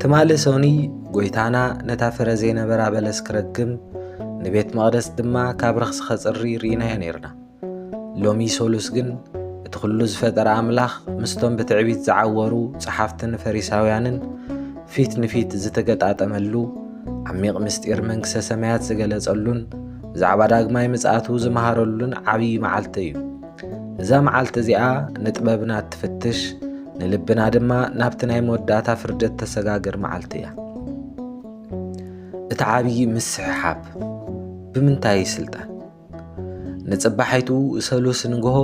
ትማሊ ሰኑይ ጐይታና ነታ ፍረ ዘይነበራ በለስ ክረግም ንቤት መቕደስ ድማ ካብ ረኽሲ ኸጽሪ ርኢናዮ ነይርና ሎሚ ሰሉስ ግን እቲ ዅሉ ዝፈጠረ ኣምላኽ ምስቶም ብትዕቢት ዝዓወሩ ጸሓፍትን ፈሪሳውያንን ፊት ንፊት ዝተገጣጠመሉ ዓሚቕ ምስጢር መንግስተ ሰማያት ዝገለጸሉን ብዛዕባ ዳግማይ ምጽኣቱ ዝመሃረሉን ዓብዪ መዓልቲ እዩ እዛ መዓልቲ እዚኣ ንጥበብና እትፍትሽ ንልብና ድማ ናብቲ ናይ መወዳእታ ፍርዲ እተሰጋግር መዓልቲ እያ እቲ ዓብዪ ምስሕሓብ ብምንታይ ስልጣን ንጽባሒቱ ሰሉስ ንግሆ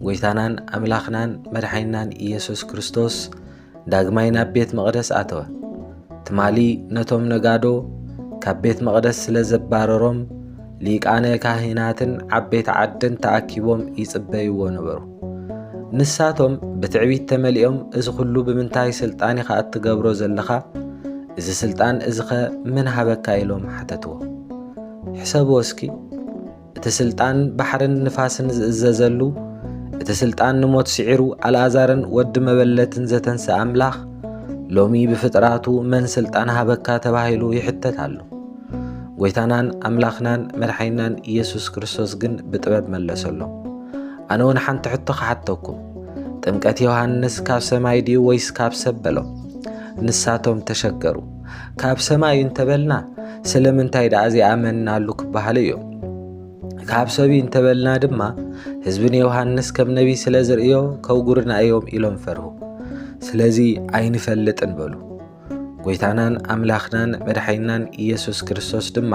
ጎይታናን ኣምላኽናን መድሓይናን ኢየሱስ ክርስቶስ ዳግማይ ናብ ቤት መቕደስ ኣተወ። ትማሊ ነቶም ነጋዶ ካብ ቤት መቕደስ ስለ ዘባረሮም ሊቃነ ካህናትን ዓበይቲ ዓድን ተኣኪቦም ይጽበይዎ ነበሩ። ንሳቶም ብትዕቢት ተመሊኦም እዚ ዅሉ ብምንታይ ስልጣን ኢኻ እትገብሮ ዘለኻ እዚ ስልጣን እዚኸ ምን ሃበካ ኢሎም ሓተትዎ ሕሰብዎ እስኪ እቲ ስልጣን ባሕርን ንፋስን ዝእዘዘሉ እቲ ስልጣን ንሞት ስዒሩ ኣልኣዛርን ወዲ መበለትን ዘተንስእ ኣምላኽ ሎሚ ብፍጥራቱ መን ስልጣን ሃበካ ተባሂሉ ይሕተት ኣሎ። ጎይታናን ኣምላኽናን መድሓይናን ኢየሱስ ክርስቶስ ግን ብጥበብ መለሰሎም። ኣነ እውን ሓንቲ ሕቶ ክሓተኩም፣ ጥምቀት ዮሃንስ ካብ ሰማይ ድዩ ወይስ ካብ ሰብ በሎም። ንሳቶም ተሸገሩ። ካብ ሰማይ እንተበልና ስለምንታይ ደኣ ዘይኣመንናሉ ክበሃሉ እዮም ካብ ሰብዩ እንተበልና ድማ ህዝቢ ንዮሃንስ ከም ነቢ ስለ ዝርእዮ ከውጉርና እዮም ኢሎም ፈርሁ ስለዚ ኣይንፈልጥን በሉ ጎይታናን ኣምላኽናን መድሓይናን ኢየሱስ ክርስቶስ ድማ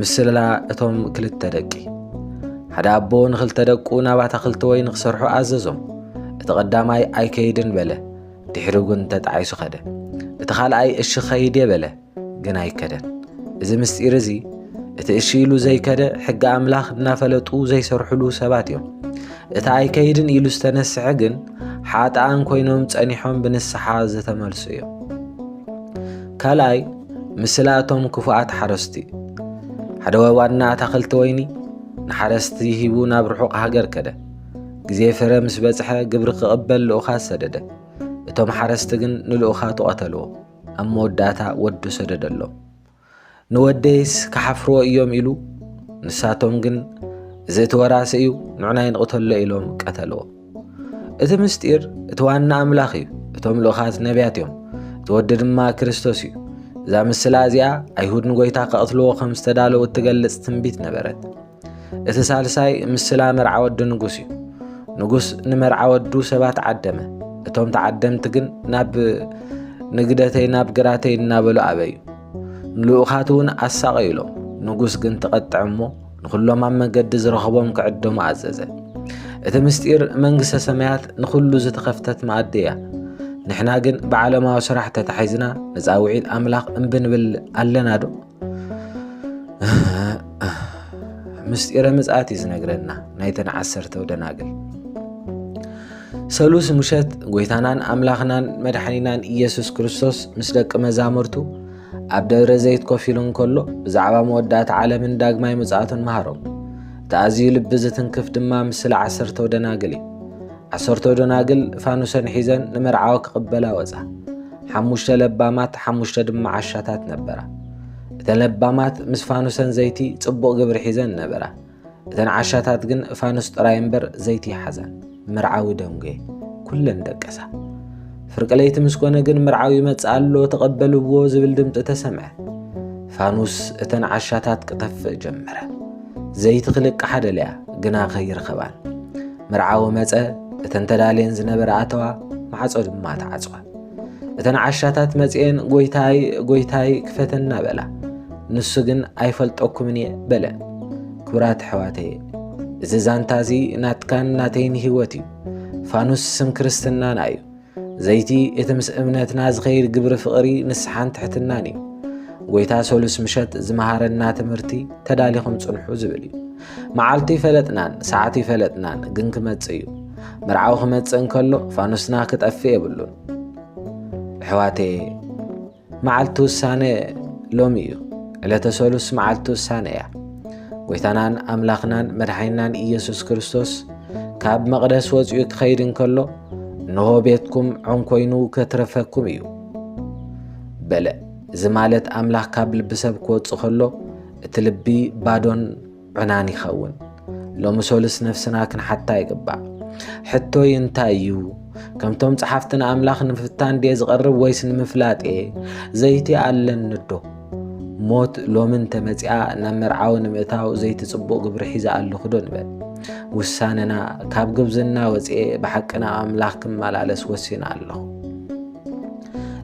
ምስላ እቶም ክልተ ደቂ ሓደ ኣቦ ንኽልተ ደቁ ናብ ኣታኽልቲ ወይ ንክሰርሑ ኣዘዞም እቲ ቐዳማይ ኣይከይድን በለ ድሕሪ እውን ተጣዒሱ ኸደ እቲ ኻልኣይ እሺ ኸይድ እየ በለ ግን ኣይከደን እዚ ምስጢር እዚ እቲ እሺ ኢሉ ዘይከደ ሕጊ ኣምላኽ እናፈለጡ ዘይሰርሕሉ ሰባት እዮም እቲ ኣይከይድን ኢሉ ዝተነስሐ ግን ሓጥኣን ኮይኖም ጸኒሖም ብንስሓ ዝተመልሱ እዮም ካልኣይ ምስላ እቶም ክፉኣት ሓረስቲ ሓደ ዋና ኣታኽልቲ ወይኒ ንሓረስቲ ሂቡ ናብ ርሑቕ ሃገር ከደ ግዜ ፍረ ምስ በጽሐ ግብሪ ክቕበል ልኡኻት ሰደደ እቶም ሓረስቲ ግን ንልኡኻቱ ቐተልዎ ኣብ መወዳእታ ወዱ ሰደደሎም ንወደይስ ክሓፍርዎ እዮም ኢሉ ንሳቶም ግን እዚ እቲ ወራሲ እዩ ንዑና ይንቕተሎ ኢሎም ቀተልዎ እቲ ምስጢር እቲ ዋና ኣምላኽ እዩ እቶም ልኡኻት ነቢያት እዮም እቲ ወዲ ድማ ክርስቶስ እዩ እዛ ምስላ እዚኣ ኣይሁድ ንጎይታ ከቕትልዎ ከም ዝተዳለዉ እትገልጽ ትንቢት ነበረት እቲ ሳልሳይ ምስላ መርዓ ወዲ ንጉስ እዩ ንጉስ ንመርዓ ወዱ ሰባት ዓደመ እቶም ተዓደምቲ ግን ናብ ንግደተይ ናብ ግራተይ እናበሉ ኣበዩ ንልኡኻት እውን ኣሳቐዩሎም ንጉስ ግን ተቐጥዐ እሞ ንዅሎም ኣብ መገዲ ዝረኸቦም ክዕደሙ ኣዘዘ። እቲ ምስጢር መንግስተ ሰማያት ንዅሉ ዝተኸፍተት መኣዲ እያ። ንሕና ግን ብዓለማዊ ስራሕ ተታሒዝና ንጻውዒት ኣምላኽ እምቢ ንብል ኣለና ዶ? ምስጢረ ምጽኣት እዩ ዝነግረና ናይተን ዓሰርተው ደናግል ሰሉስ ምሸት ጎይታናን ኣምላኽናን መድሓኒናን ኢየሱስ ክርስቶስ ምስ ደቂ መዛሙርቱ ኣብ ደብረ ዘይት ኮፍ ኢሉ እንከሎ ብዛዕባ መወዳእታ ዓለምን ዳግማይ ምጽኣቱን መሃሮም። እቲ ኣዝዩ ልቢ ዝትንክፍ ድማ ምስላ ዓሰርተው ደናግል እዩ። ዓሰርተው ደናግል ፋኑሰን ሒዘን ንመርዓዊ ክቕበላ ወጻ። ሓሙሽተ ለባማት ሓሙሽተ ድማ ዓሻታት ነበራ። እተን ለባማት ምስ ፋኑሰን ዘይቲ ጽቡቕ ግብሪ ሒዘን ነበራ። እተን ዓሻታት ግን ፋኑስ ጥራይ እምበር ዘይቲ ይሓዛን መርዓዊ ደንጎየ ኩለን ደቀሳ ፍርቂ ለይቲ ምስ ኮነ ግን መርዓዊ ይመጽእ ኣሎ ተቐበልዎ ዝብል ድምፂ ተሰምዐ ፋኑስ እተን ዓሻታት ክጠፍእ ጀመረ ዘይቲ ክልቅሓ ደልያ ግና ከይረኸባን መርዓዊ መፀ እተን ተዳልየን ዝነበረ ኣተዋ ማዕፆ ድማ ተዓፅወ እተን ዓሻታት መፅኤን ጎይታይ ጎይታይ ክፈተና በላ ንሱ ግን ኣይፈልጠኩምን እየ በለ ክብራት ኣሕዋተየ እዚ ዛንታ እዚ ናትካን ናተይን ህይወት እዩ ፋኑስ ስም ክርስትናና እዩ ዘይቲ እቲ ምስ እምነትና ዝኸይድ ግብሪ ፍቕሪ ንስሓን ትሕትናን እዩ ጎይታ ሰሉስ ምሸት ዝመሃረና ትምህርቲ ተዳሊኹም ፅንሑ ዝብል እዩ መዓልቲ ኣይፈለጥናን ሰዓት ኣይፈለጥናን ግን ክመጽእ እዩ መርዓዊ ክመጽእ እንከሎ ፋኑስና ክጠፍእ የብሉን ኣሕዋተየ መዓልቲ ውሳነ ሎሚ እዩ ዕለተ ሰሉስ መዓልቲ ውሳነ እያ ጎይታናን ኣምላኽናን መድሓይናን ኢየሱስ ክርስቶስ ካብ መቕደስ ወፂኡ ክኸይድ እንከሎ እንሆ ቤትኩም ዖም ኮይኑ ከትረፈኩም እዩ በለ እዚ ማለት ኣምላኽ ካብ ልቢ ሰብ ክወፅእ ከሎ እቲ ልቢ ባዶን ዕናን ይኸውን። ሎሚ ሶልስ ነፍስና ክንሓታ ይግባእ። ሕቶይ እንታይ እዩ? ከምቶም ጸሓፍቲ ንኣምላኽ ንምፍታን ድየ ዝቐርብ ወይስ ንምፍላጥ እየ? ዘይቲ ኣለንዶ? ሞት ሎሚ እንተመጺኣ ናብ መርዓዊ ንምእታው ዘይቲ ጽቡቕ ግብሪ ሒዛ ኣለኹዶ ንበል። ውሳነና ካብ ግብዝና ወፅኤ ብሓቂ ናብ ኣምላኽ ክመላለስ ወሲና ኣለኹ።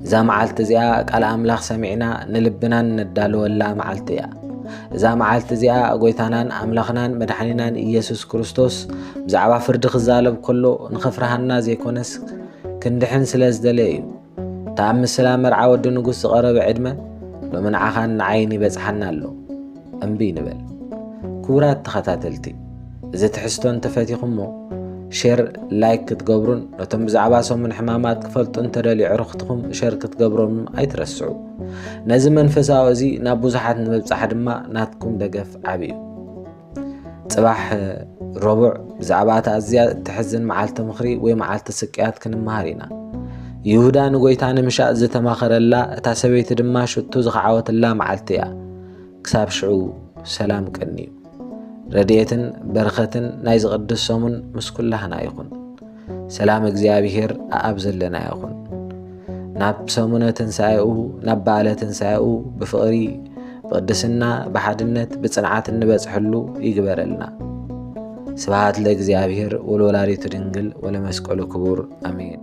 እዛ መዓልቲ እዚኣ ቃል ኣምላኽ ሰሚዕና ንልብናን ነዳልወላ መዓልቲ እያ እዛ መዓልቲ እዚኣ ጎይታናን ኣምላኽናን መድሓኒናን ኢየሱስ ክርስቶስ ብዛዕባ ፍርዲ ክዛለብ ከሎ ንኸፍርሃና ዘይኮነስ ክንድሕን ስለ ዝደለየ እዩ እታ ኣብ ምስላ መርዓ ወዲ ንጉስ ዝቐረበ ዕድመ ሎሚ ንዓኻን ንዓይን ይበጽሓና ኣሎ እምብይ ንበል። ክቡራት ተኸታተልቲ እዚ ትሕዝቶ እንተፈቲኹሞ ሼር ላይክ ክትገብሩን ነቶም ብዛዕባ ሰሙን ሕማማት ክፈልጡ እንተደልዩ ዕርኽትኹም ሸር ክትገብሮም ኣይትረስዑ። ነዚ መንፈሳዊ እዚ ናብ ብዙሓት ንምብጻሕ ድማ ናትኩም ደገፍ ዓብዩ እዩ። ጽባሕ ረቡዕ ብዛዕባ እቲ ኣዝያ እትሕዝን መዓልቲ ምኽሪ ወይ መዓልቲ ስቅያት ክንመሃር ኢና ይሁዳ ንጎይታ ንምሻእ ዝተማኸረላ እታ ሰበይቲ ድማ ሽቱ ዝኸዓወትላ መዓልቲ እያ ክሳብ ሽዑ ሰላም ቀንዩ። ረድኤትን በረኸትን ናይዚ ቅዱስ ሰሙን ምስ ኩላህና ይኹን። ሰላም እግዚኣብሔር ኣኣብ ዘለና ይኹን። ናብ ሰሙነ ትንሣኤኡ ናብ በዓለ ትንሣኤኡ ብፍቕሪ ብቅድስና ብሓድነት ብጽንዓት እንበጽሐሉ ይግበረልና። ስብሃት ለእግዚኣብሔር ወለወላዲቱ ድንግል ወለመስቀሉ ክቡር ኣሜን።